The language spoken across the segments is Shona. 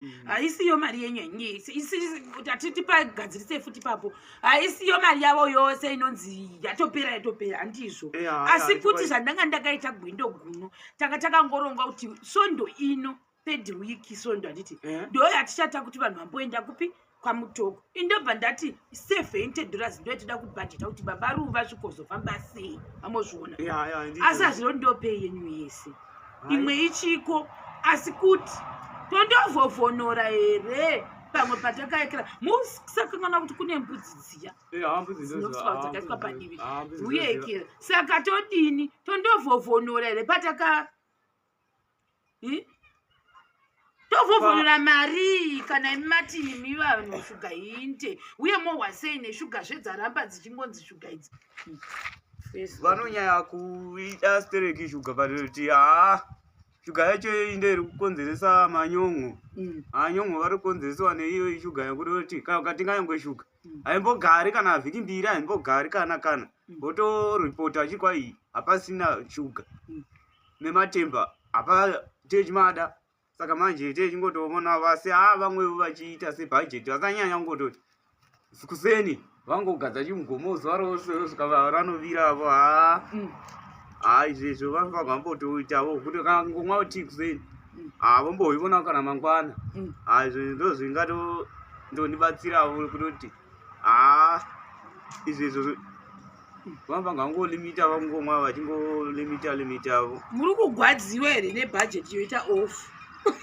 mm. haisiyo mari yenyu yenyuatipagadzirise futi papo haisiyo mari yavo yose inonzi yatopera yatopera handizvo asi futi zvandanga ndakaita gwindo guno tanga takangoronga kuti svondo ino third week svondo handiti eh? ndo yatichata kuti vanhu vamboenda kupi kwamutoko indobva ndati seventy dollars ndoyatida kubhajeta kuti baba ruva zvikozofamba sei vamozviona asi hazvino ndopei yenyu yese imwe ichiko asi kuti tondovhovhonora here pamwe patakaekera musakanganwa kuti kune mbudzi dziya dzinokudzakaiswa padivi uye ekera saka todini tondovhovhonora here pataka hmm? tovhovhonora marii kana imi matini mi vanhu shuga hinte uye mohwasei neshuga zvedzaramba dzichingonzi shuga idzi hmm. vanonyaya kuita stereki shuga vatoti haa shuga yacho inde iri kukonzeresa manyon'o mm. anyon'o vari kukonzeresewa neiyo shuga yakuti oti kana ukatenga nyangwe shuga mm. haimbogari kana vhiki mbiri haimbogari kana kana mm. votoripota chikwa iyi hapasina shuga nematemba apa techimada saka manje techingotoona vasi a ah, vamwevo vachiita sebhajeti vakanyanya kungototi kuseni vangogadza chimugomo zuva rose rosvika ranovira avo haa ah. mm. haa ah, izvezvo vanofa vambotoitavo kuti kangomwa uti kuseni mm. haa vomboivona kana mangwana mm. haa izvo ndo zvingato ndondibatsiravo kutoti haa izvezvo vanga vangangolimita vangomwa vachingolimita limita avo muri kugwadziwa here nebhajeti yoita off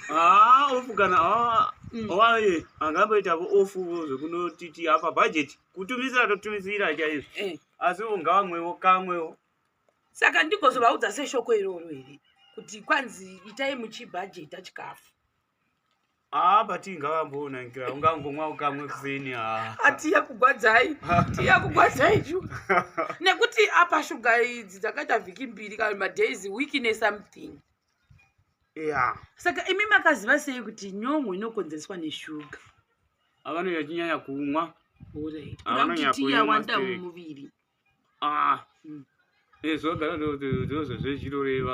haa ah, off kana ah, mm. waye angamboitavo off zvekunotiti apa bhajeti kutumisira totumisira chaizvo eh. asi ungavamwewo kamwewo saka ndigozovaudza seshoko iroro here kuti kwanzi itai muchibhajeta chikafu Ah, but ingavamboona nkira ungangomwa ukamwe kuseni ah. atiya kugwadzai tiya kugwadzai chu nekuti apa shuga idzi dzakaita vhiki mbiri kana madays week ne something yeah. saka imi makaziva sei kuti nyongo inokonzereswa neshuga avanoyachinyanya kumwa Alright. Ava Inoda kuti nonyapwe tiya wanda mastake. mumuviri ah eh zvogara ndozvo zvezvinoreva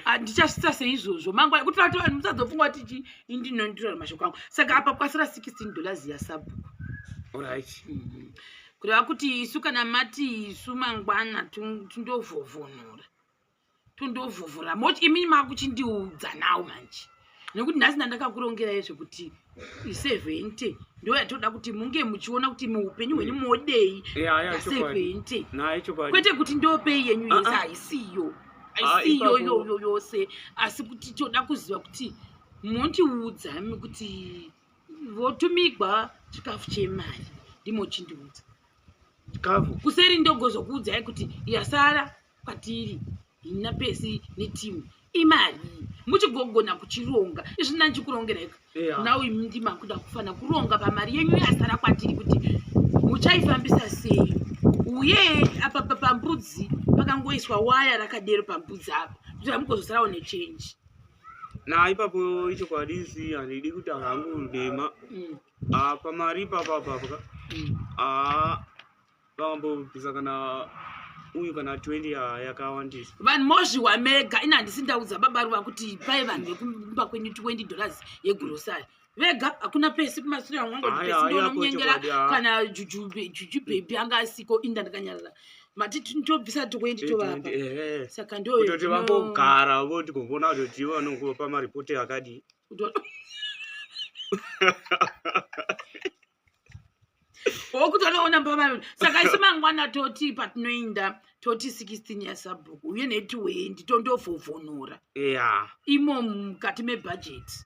handichasvitsa ah, seizvozvo mangwana kuti vati vanhu musadzopfungwa kuti chi indinondirora mashoko angu saka apa kwasira 16 dollars yasabhuku orit mm-hmm. kureva kuti isu kana mati isu mangwana tindovhovhonora tondovhuvhura moti imini makuchindiudza nawo manje nekuti nhasi ndandakakurongerai zvekuti isevhente ndo yatoda kuti munge muchiona kuti muupenyu hwenyu mm. modei asevhente kwete kuti ndopei yenyu ah, yese ah. haisiyo haisiyo ah, yoyo yose asi kuti toda kuziva kuti mondiudza mi kuti votumigwa chikafu chemari ndimochindiudza chikafu kuseri ndogozokuudzai kuti yasara kwatiri hina pesi netimu imari muchigogona kuchironga izvi ndandichikurongereka yeah. now imi ndimakuda kufana kuronga pamari yenyu yasara kwatiri kuti muchaifambisa sei uye apa pambudzi pakangoiswa waya rakadero pambudzi apa kuti amukozosarawo nechange na ipapo ichokwadi isi handidi kuti hangu ndema mm. apa mari ipapapapaka mm. ah, vambobvisa kana uyu kana 20 ya- yakawandisa vanhu mozviwa mega ini handisi ndaudza baba ruva kuti pai vanhu vekumba kwenyu 20 dollars yegurosari vega hakuna pesi kumasure angu anga Haya, pesi haya, ndonomunyengera kochokwadi, ah. kana juju be- juju bhebhi anga asiko inda ndakanyarara mati ti- tobvisa 20 tovapa ehe saka ndo kutoti zvino- vambogara voti kumbona kutoti ivo vanokupa maripoti akadii Kuto- wokutonoona mbavaviri saka isi mangwana toti patinoinda toti 16 yasabhuku uye netiwendi tondovhovhonora yeah. imo mukati mebhajeti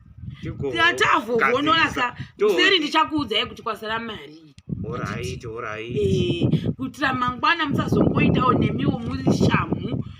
tatavhovhonora sa kuseri ndichakuudzai kuti kwasara mari eh, kuitira mangwana musazongoitawo nemiwo muri shamhu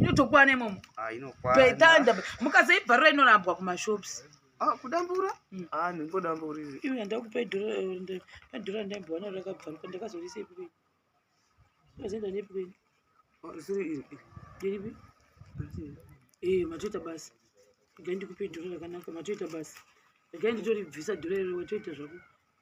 inotokwana imomo ah, toitanda mukasaibvarura inorambwa kumashops ah, kudambura hmm. ah, ndingodamburiri iwe handakupa idhora randaimbowana rakabvaruka ndakazorisa ipikweni azoenda neipikweni iripi ee eh, matoita basa regai ndikupe idhora rakanaka matoita basa regai nditoribvisa dhora iro watoita zvako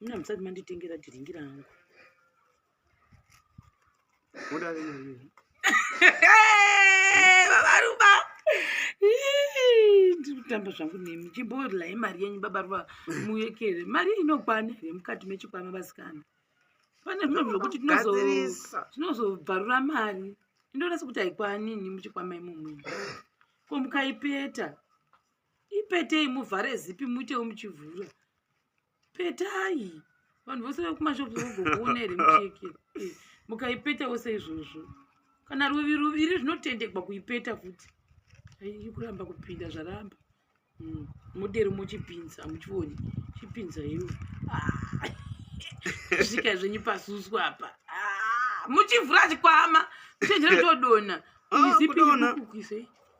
Mna msati manditengera dhiringi rangu. Uda nini? Baba Ruba. Ndikutamba zvangu nemi. Chibodla imari yenyu baba Ruba muyekere. Mari inokwana here mukati mechikwama vasikana? Pane zvino zvokuti tinozo tinozobvarura mari. Ndonasa kuti haikwani nini muchikwama imomo. Ko mukaipeta. ipetei muvhare zipi muitewo muchivhura petai vanhu vose vekumashops vogokuona here mucheke eh, mukaipetawo seizvozvo kana ruvi ruviri zvinotendegwa kuipeta futi aii kuramba kupinda zvaramba hmm, modero mochipinza hamuchioni chipinza iwo ah, svika zvenyu pasuswa apa ah, muchivhura chikwama muchenjera todona ah, izipi kukuise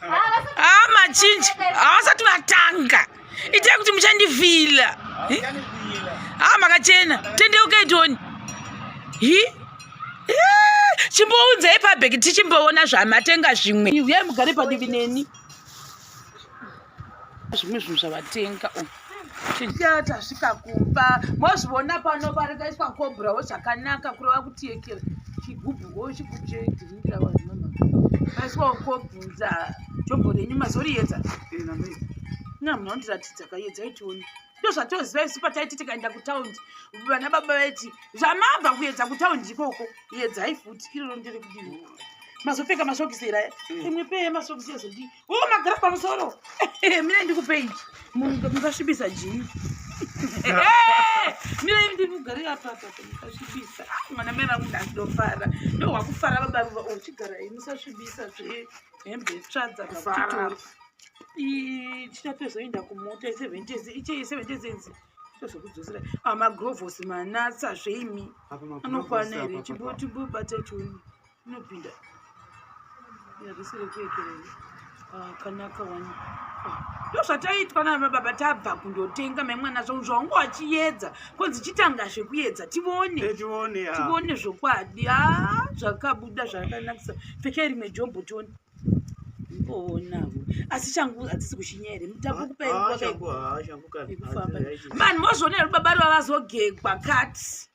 Ama ah, chinji havasati vatanga itai kuti muchandivhila haa ah, makachena tendeukai toni hi chimbounzai pabheki tichimboona zvamatenga zvimwe uyai mugare padivi neni zvimwe zvinhu zvavatenga oh. Chijata svika kumba mozviona pano parikaiswa kobrawo zvakanaka kureva kuti yekera chigubhu wo chigubhu chedhiringira vanhu mama maiswa kobvunza jombo renyu mazoriyedza na munhu andiratidza kayedza itioni ndozvatoziva isu pataiti tikaenda kutaundi vana baba vaiti zvamabva kuyedza kutaundi ikoko yedzai futi iroro ndiri kudii mazopfeka masokisi ira imwe peye masokisi ezodii Oh, magara pamusoro. Mira ndikupe ichi. Munhu mukasvibisa jini. Mira ini ndikugarira papa mukasvibisa. Mwana mai vangu ndandofara. Ndo wakufara baba ruva uchigara oh, musasvibisa zve hembe tsvadza pakutora. Tichapezoenda kumota iseventezi iche iseventezi inzi tozokudzosera amagrovosi ah, manatsa zveimi anokwana here chibotibobata chiuno inopinda ah, kanaka wani ndo zvataitwa nana baba tabva kundotenga maimwana zvangu zvaunge wachiedza konzi chitanga zvekuedza tivone tivone zvokwadi a ah, zvakabuda zvakanakisa pfeke rimwe jombo tione onavo asi changu hadzisi kuchinya here mutakukupaekufamba mani mozvonera rubaba rwavazogegwa kati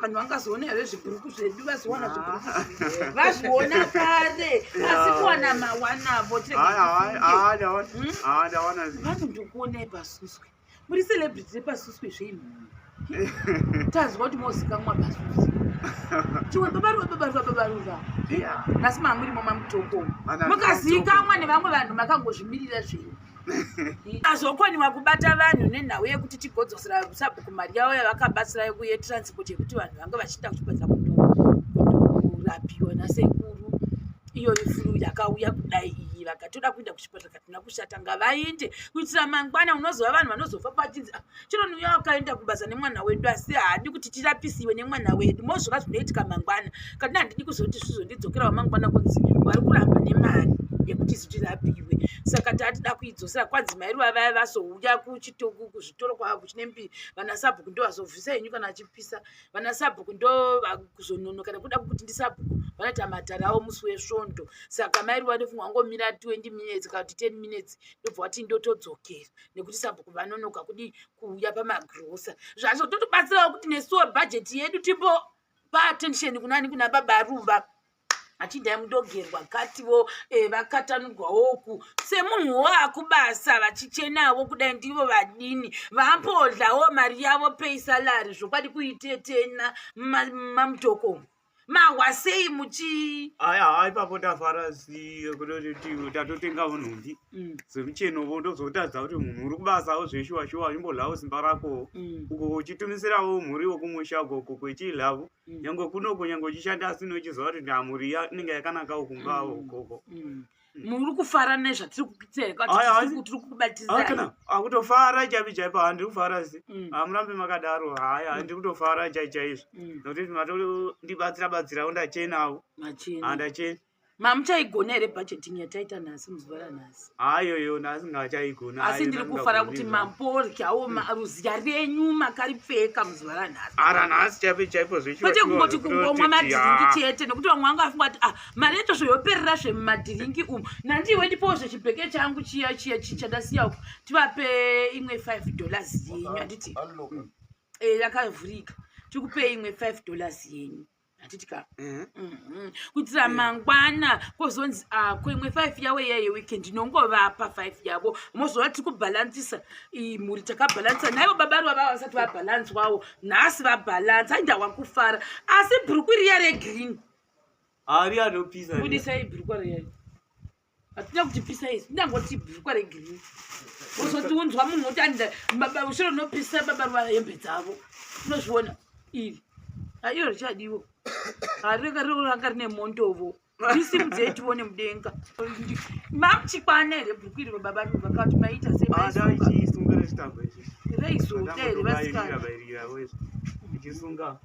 vanhu vangazoona here zvibhuruku zvedu vazowana ah. zvibhuruku vazviona kare asi kuwana mawanavo vanhu ndikuonai pasuswe muri celebrity repasuswe zvenhu tanzwa kuti mozikamwa pasuswe chiwe babaruva babaruva babaruva asi mamuri momamutoko mukazikamwa nevamwe vanhu makangozvimirira zvenyu azokoniwa kubata vanhu nenhau yekuti tigodzosera sabhuku mari yavo yavakabatsira yekuye transport yekuti vanhu vanga vachiita kuchipatsa kurapiwa nasekuru iyo ifuru yakauya kudai iyi vakatoda kuenda kuchipatsa katina kushata ngavainde kuitira mangwana unozova vanhu vanozofa pachinzi ah, chero niuya wakaenda kubasa nemwana wedu asi haadi kuti tirapisiwe nemwana wedu mozviva zvinoitika mangwana kana handidi kuzoti zvizondidzokerawo mangwana kunzi wari kuramba nemari yekuti zitirapiwe saka tatida kuidzosera kwanzi mairi vavaya vazouya kuchitoku kuzvitoro kwava kuchine mbi vana sabhuku ndo vazovhisa henyu kana vachipisa vana sabhuku ndo vakuzonono kana kuda kuti ndi sabhuku vanoita matara avo musi wesvondo saka mairi vanofunga wangomira 20 minutes kana kuti 10 minutes ndobva wati ndotodzokera nekuti sabhuku vanonoka kudii kuuya pamagrosa zvacho totobatsirawo kuti nesuwo bhajeti yedu timbo paattention kunani kuna baba ruva achidai mudogerwa kativo eh, vakatanurwawo e, uku semunhu wo akubasa vachichenawo kudai ndivo vadini vambodlawo mari yavo pei salari zvokwadi kuitetena mamutokomo ma mahwa sei muchii aya haa ipapo tafara siye kutoti tatotenga unhumbi mm. semucheno vo ndozotadza kuti munhu uri kubasawo zveshuwa shuwa imbolhawo simba rako mm. uko uchitumisirawo mhuri wokumusha ukoko kwechiilhavo mm. nyange kunoko nyange uchishanda asi nochiziva kuti ndamhuri inenge yakanakawo kumbawo ukoko mm. mm. muri kufara nezvatiri kukubatizakana akutofara ah, chaipi chaipo handi kufara si mm. hamurambi ah, makadaro haya handi mm. kutofara chai chaizvo mm. nokuti matondibatsira batsirawo ndachenawo handachena ah, mamuchaigona here budgeting yataita nhasi muzuva ranhasi hayoyo nhasi ngachaigona asi ndiri kufara kuti mamporyawo maruzya renyu makaripfeka muzuva ranhasi ara nhasi chaipo chaipo zvekwete kungoti kungomwa madhiringi chete nekuti vamwe vanga vafunga kuti ah mari yacho zvoyoperera zvemumadhiringi umu nandiwe ndipowo zvechibheke changu chiya chiya chichandasiya uku tivape imwe five dollars yenyu handiti eh, yakavhurika tikupe imwe five dollars yenyu handiti ka mhm. mhm. kuitira eh. mangwana kwozonzi ako ah, imwe five yavo iyaye weekend inongovapa five yavo mozova tiri kubhalansisa mhuri takabhalansisa naivo baba rova vava vasati vabhalanswawo nhasi vabhalansa ainda wakufara asi bhuruku riya regreen Ari anopisa. Budisai brukwa riyai. Hatida kuti pisa isi. Ndangoti brukwa regirini. Uzoti unzwa munhu woti anda baba ushiro nopisa baba ruvara hembe dzavo. Unozviona iri. Ayo richadiwo. Ari ranga rine mondovo. Ndisimudzei tione mudenga. Mamuchikwana here brukwa iri baba vanhu vakati maita sei? Ada ichisunga rechitambo ichi. Reizodei vasikana. Ichisunga.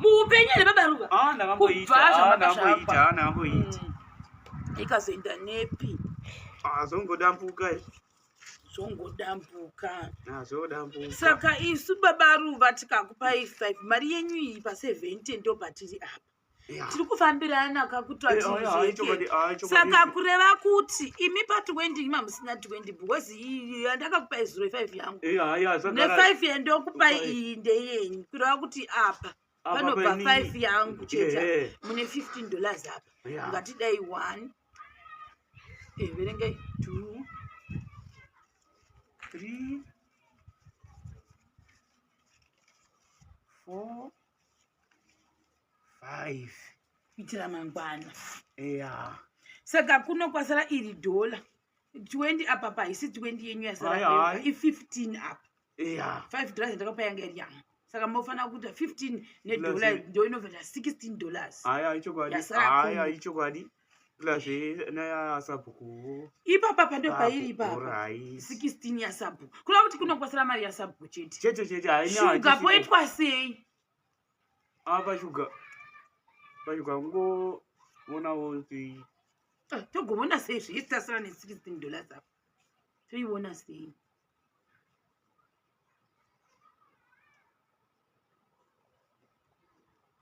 muupenyu here baba ruva ah, ndakamboita ah, ndakamboita ah, ndakamboita hmm. ikazoenda nepi zvongodambuka zvongodambuka zvongodambuka saka isu baba ruva tikakupai five mari yenyu iyi paseventi ndo patiri apa tiri kufambirana kakutwasaka kureva kuti imi pa 20 ima musina 20 because iyi yandakakupai zuro ifive yangu Eh, haya, zvagara- nefive yandokupai Kupai. iyi ndeyenyu kureva kuti apa Apa panobva painini. five yangu chete Eh, eh. mune 15 dollars apa Yeah. ngatidai one Eh, verengai two three four five kuitira mangwana eya saka kuno kwasara iri dhola 20 apa pa haisi 20 yenyu yasara i 15 apa yeah. 5 dollars ndakapa yanga iri yanga saka mofanira kuita 15 nedola ndo inoveta 16 dollars aya ichokwadi aya ichokwadi plus yasabhuku ipapa pando pairi ipapa 16 yasabhuku kuda kuti kunokwasira mari yasabhuku chete chete chete shuga poitwa sei apa shuga pashuga kungovonawo ah, togovona sei zviisasira ne16 dollars apa toivona sei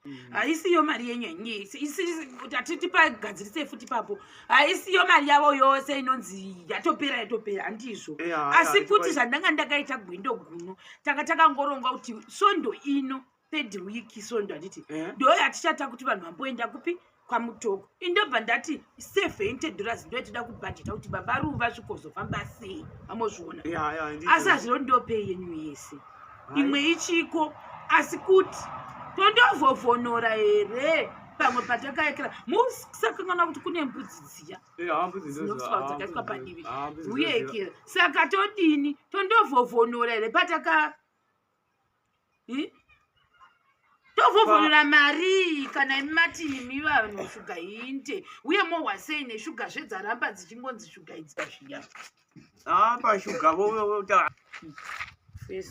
Mm. haisiyo mari yenyu yanyatiti pagadzirise futi papo haisiyo mari yavo yose inonzi yatopera yatopera handizvo eh, asi futi zvandanga ndakaita gwindo guno tanga takangoronga kuti svondo ino third week sondo handiti eh? ndo yatichata kuti vanhu vamboenda kupi kwamutoko indobva ndati safe ented dollars ndo yatida kubhajeta kuti baba ruva zvikozofamba sei vamozviona asi hazvino ndopei yenyu yese imwe ichiko asi kuti tondovhovhonora here pamwe patakaekera musakanganwa kuti kune mbudzi dziya dzinokusaadzakaiswa padivi uyeekera saka todini tondovhovhonora here pataka hmm? tovhovhonora marii kana imi mati imi vanhu shuga hinte uye mohwasei neshuga zvedzaramba dzichingonzi shuga idzia zviya apa ah, shuga vovota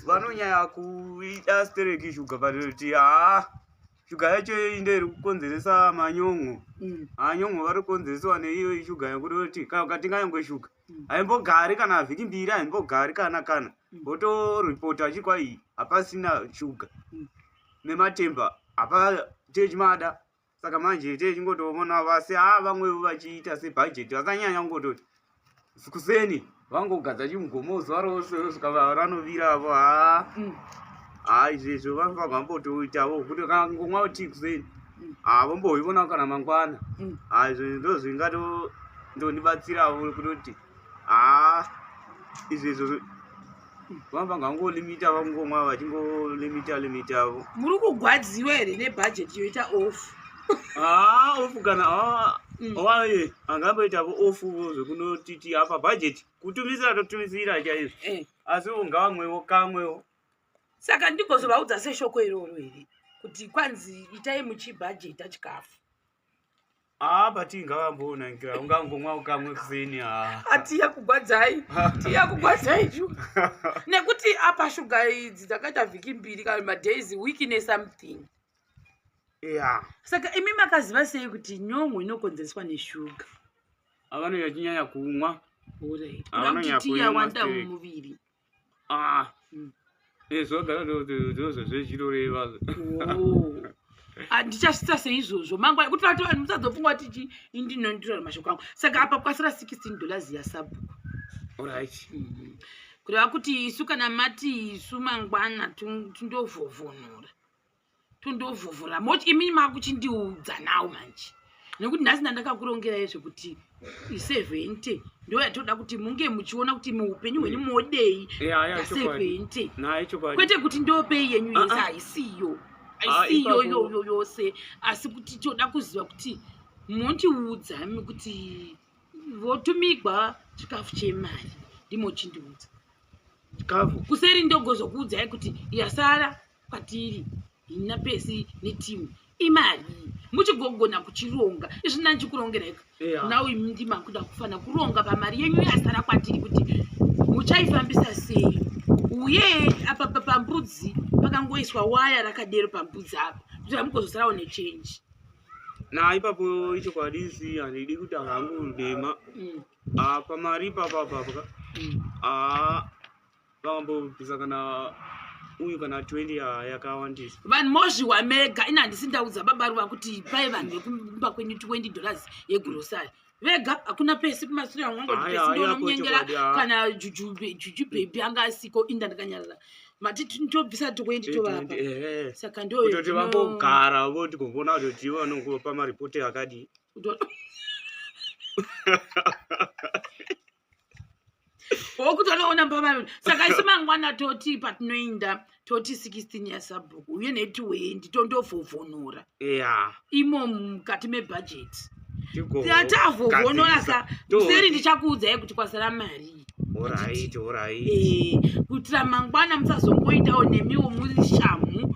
vanonyaya kuita stereki shuga vatoti haa ah, shuga yacho inde iri kukonzeresa manyongo mm. anyongo vari kukonzeresewa neiyo ishuga yekuti kana ukatinga yange shuga mm. haimbogari kana vhiki mbiri haimbogari kana kana mm. votoripota achiri kwai hapasina shuga mm. nematemba hapa techimada saka manje techingotoona vasi ha ah, vamwevo vachiita sebhajeti vakanyanya kungototi kuseni vangogadza chimugomo zuva rose svikava ranovira avo ha ha izvezvo vanofanirwa mbotoitavo kuti kangomwa uti kuseni Mm. Ah, vomboivona kana mangwana Mm. Ah, izvo ndo zvingato ndondibatsirawo kutoti haa izvi izvo vamba ngangolimita vangomwa vachingolimita limitavo muri kugwadziwa here nebhajeti yoita off haa ofu kana haa Mm. waye angamboitavo ofuvo zvekunotiti apa bhajeti kutumisira totumisira chaizvo eh. asi ungavamwewo kamwewo saka ndigozovaudza seshoko iroro here kuti kwanzi itai muchibhajeta chikafu haa ah, bati ngavamboona ngira ungangomwa ukamwe kuseni haa ah. atiya kugwadzai tiya kugwadzai chu nekuti apa shuga idzi dzakaita vhiki mbiri kana madays week nesomething ya saka imi makaziva sei kuti nyongo inokonzereswa neshuga avanoyachinyanya kumwa uraiti tiya wanda mumuviri ah mm. eh, zvozozvezvirorevazo handichasvitsa ah, seizvozvo mangwana kuti vati vanhu musadzofunga kuti chi indinondirora mashoko angu saka apa kwasira 16 dollars yasabhuku orit mm-hmm. kureva kuti isu kana mati isu mangwana tindovhovhonora tondovhuvhura moch imini makuchindiudza nawo manje nekuti nhasi ndandakakurongerai zvekuti isevhente ndo yatoda kuti munge muchiona kuti muupenyu hwenyu mm. modei asevhente kwete kuti ndopei yenyu ah, yese ah. haisiyo ah, haisiyo iyoyo yose asi kuti toda kuziva kuti mondiudza mi kuti votumigwa chikafu chemari ndimochindiudza chikafu kuseri ndogozokuudzai kuti yasara kwatiri hina pesi netimu imari muchigogona kuchironga izvi nandichikurongereka yeah. now imi ndima kuda kufana kuronga pamari yenyu yasara kwatiri kuti muchaifambisa sei uye apa pambudzi pakangoiswa waya rakadero pambudzi apa kuti amukozosarawo nechange na ipapo ichokwadi isi handidi kuti hangu ndema mm. ah, pamari ipapapapaka mm. ah, vakambobvisa kana uyu kana 20 yakawandisa vanhu mozviwa mega ini handisi ndaudza baba ruva kuti pai vanhu vekumba kwenyu 20 dollars yegrosari vega hakuna pesi kumasure amwanga kuti pesi ndonomunyengera kana juju bhebhi anga asiko inda ndakanyarara mati tobvisa tokuendi tovapa saka ndokutoti vambogara voti kuvona kuti vanongopa maripoti akadii wokutonoona mbavaviri saka isi mangwana toti patinoinda toti 16 yasabhuku uye netiwendi tondovhovhonora yeah. imo mukati mebhajeti tatavhovhonorasa museri ndichakuudzai kuti kwasara mari eh, kuitira mangwana musazongoitawo nemiwo muri shamu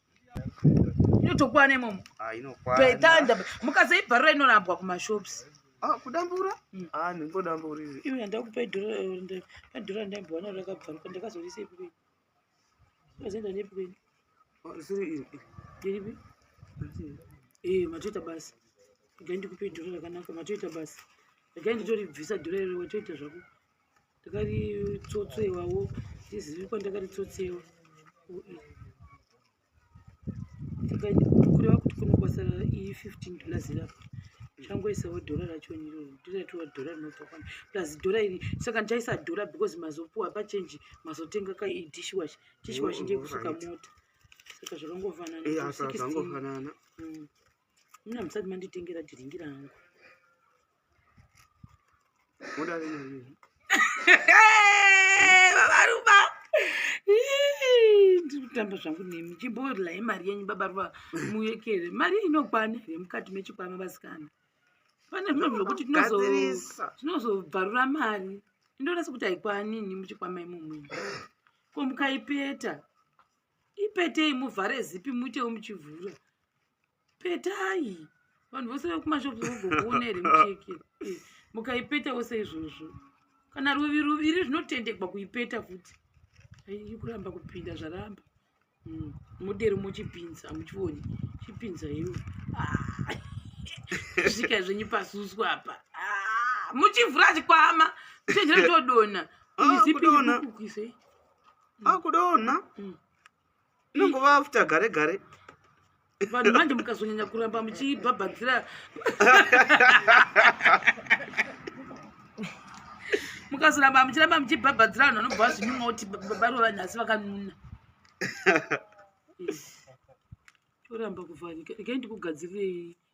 inotokwana imomo ah, toitanda mukasaibvarura inorambwa kumashops ah, kudambura hmm. ah, ndingodambura izi iwe ndakupa idhora randaimbowana rakabvaruka ndakazorisa ipi kweni azoenda nepi kweni iripi e eh, matoita basa regai ndikupe idhora rakanaka matoita basa regai nditoribvisa dhora iro watoita zvako ndakaritsotseiwawo ndizivi kwandakaritsotsewa kureva kuti kunokwasa i15 dollars rapo changoisawo dhora racho niro ndiratiwa dhora rinobva kwani plus dhora iri saka ndichaisa dhora because mazopuwa pachenji mazotenga ka idishwash dishwash ndiye kusuka mota saka zvakangofananazvangofanana eh, mm. muna musati manditengera dhiringira hangu babaruba ndikutamba zvangu nemi chimboodlai mari yenyu babaruba muyekere mari inokwana here mukati mechikwama vasikana pane zvino zvokuti tinozobvarura mari indoona sekuti haikwani ini muchikwama imomo ko mukaipeta ipetei muvhare zipi muitewo muchivhura petai vanhu vose vekumashops vogokuona here mucheki eh, mukaipeta wose izvozvo kana ruvi ruviri zvinotendegwa kuipeta futi aii kuramba kupinda zvaramba hmm, modero mochipinza hamuchioni chipinza iwo ah, svika zvenyu pasusu apa ah, muchivhura chikwama muchenjera todona ah, izipi kukuise akudona hmm. inongova after gare gare vanhu manje mukazonyanya kuramba muchibhabhadzira mukazoramba muchiramba muchibhabhadzira vanhu vanobva vazvinyuma kuti barova nhasi vakanuna toramba kuvharika rekai ndikugadzirirei